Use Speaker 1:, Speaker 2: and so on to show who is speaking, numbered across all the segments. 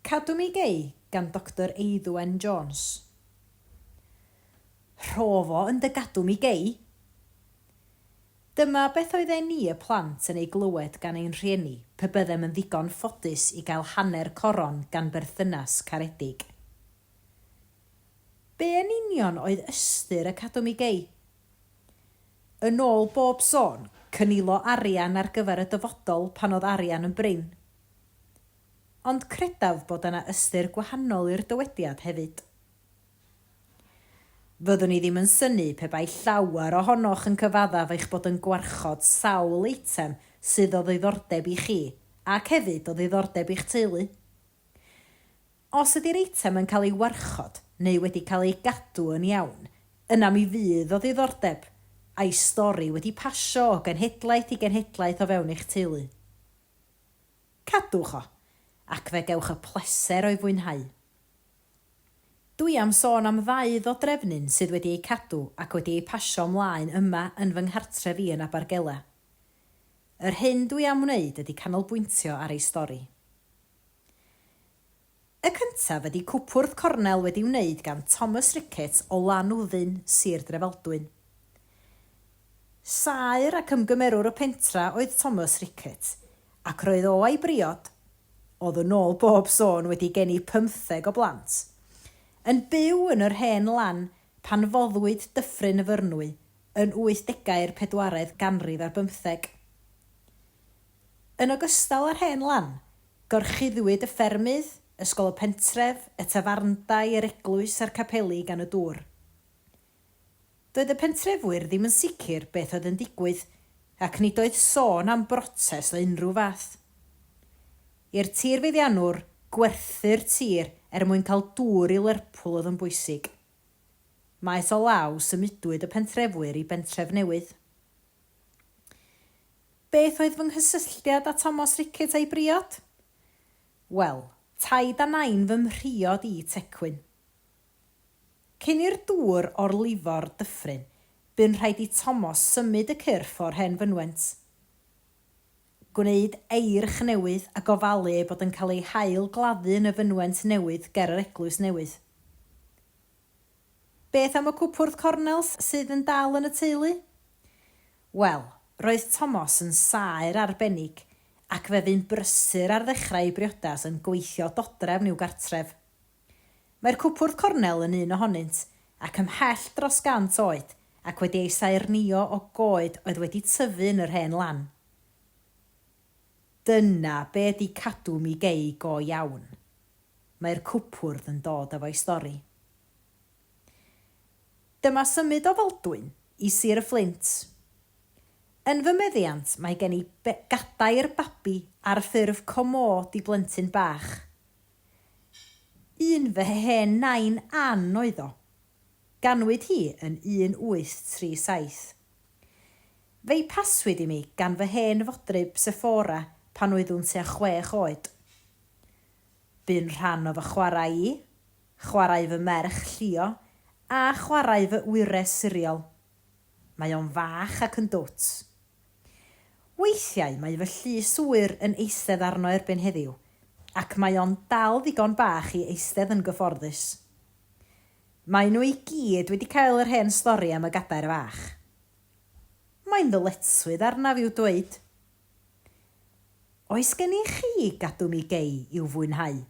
Speaker 1: Cadw Mi Gei gan Doctor Eiddwen Jones. Rho'fo yn dy gadw mi gei! Dyma beth oedden ni y plant yn ei glywed gan ein rhieni pe byddem yn ddigon ffodus i gael hanner coron gan berthynas caredig. Be yn union oedd ystyr y Cadw Mi Gei? Yn ôl bob sôn, cynilo arian ar gyfer y dyfodol pan oedd arian yn brin. Ond credaf bod yna ystyr gwahanol i'r dywediad hefyd. Fyddwn i ddim yn synnu pe bai llawer ohonoch yn cyfaddef eich bod yn gwarchod sawl eitem sydd o ddiddordeb i chi ac hefyd o ddiddordeb i'ch teulu. Os ydy'r eitem yn cael ei warchod neu wedi cael ei gadw yn iawn, yna mi fydd o ddiddordeb, a'i stori wedi pasio o genhedlaeth i genhedlaeth o fewn eich teulu. Cadwch o, ac fe gewch y pleser o'i fwynhau. Dw i am sôn am ddau ddodrefnyn sydd wedi eu cadw ac wedi eu pasio 'mlaen yma yn fy nghartref i yn Abergele. Yr hyn dw i am wneud ydy canolbwyntio ar ei stori. Y cyntaf ydi cwpwrdd cornel wedi wneud gan Thomas Ricketts o Lanwddyn, Sir Drefaldwyn. Saer ac ymgymerwr y pentra oedd Thomas Ricketts, ac roedd o a'i briod, odd yn ôl bob sôn wedi geni pymtheg o blant, yn byw yn yr hen lan pan foddwyd Dyffryn y Fyrnwy yn wythdegau'r pedwaredd ganrif ar bymtheg. Yn ogystal â'r hen lan, Gorchuddwyd y ffermydd, ysgol y pentref, y tafarndai, yr eglwys a'r capeli gan y dŵr. Doedd y pentrefwyr ddim yn sicr beth oedd yn digwydd ac nid oedd sôn am brotest o unrhyw fath. I'r tirfeddiannwr, gwerthu'r tir er mwyn cael dŵr i Lerpwl oedd yn bwysig. Maes o law symudwyd y pentrefwyr i bentref newydd. Beth oedd fy nghysylltiad â Tomos Rickett a'i briod? Wel, taid a nain fy mhriod i Tecwyn. Cyn i'r dŵr orlifo'r dyffryn, bu'n rhaid i Tomos symud y cyrff o'r hen fynwent, gwneud eirch newydd a gofalu ei bod yn cael ei hail-gladdu yn y fynwent newydd ger yr eglwys newydd. Beth am y cwpwrdd cornels sydd yn dal yn y teulu? Wel, roedd Tomos yn saer arbennig ac fe fu'n brysur ar ddechrau ei briodas yn gweithio dodrefn i'w gartref. Mae'r cwpwrdd cornel yn un ohonynt ac ymhell dros 100 oed ac wedi ei saernïo o goed oedd wedi tyfu yn yr hen lan. Dyna be ydy cadw mi gei go iawn. Mae'r cwpwrdd yn dod efo'i stori. Dyma symud o Faldwyn i Sir y Fflint. Yn fy meddiant mae gen i be gadair babi ar ffurf comôd i blentyn bach. Un fy hen nain Ann oedd o. Ganwyd hi yn 1837. Fe'i paswyd i mi gan fy hen fodryb Sephora pan oeddwn tua chwech oed. Bu'n rhan o fy chwarae i, chwarae fy merch llio, a chwarae fy wyres siriol. Mae o'n fach ac yn dwt. Weithiau mae fy llys ŵyr yn eistedd arno erbyn heddiw, ac mae o'n dal ddigon bach i eistedd yn gyfforddus. Maen nhw i gyd wedi cael yr hen stori am y gadair fach. Mae'n ddyletswydd arnaf i'w dweud. Oes gennych chi gadw mi gei i'w fwynhau?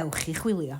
Speaker 1: Ewch i chwilio.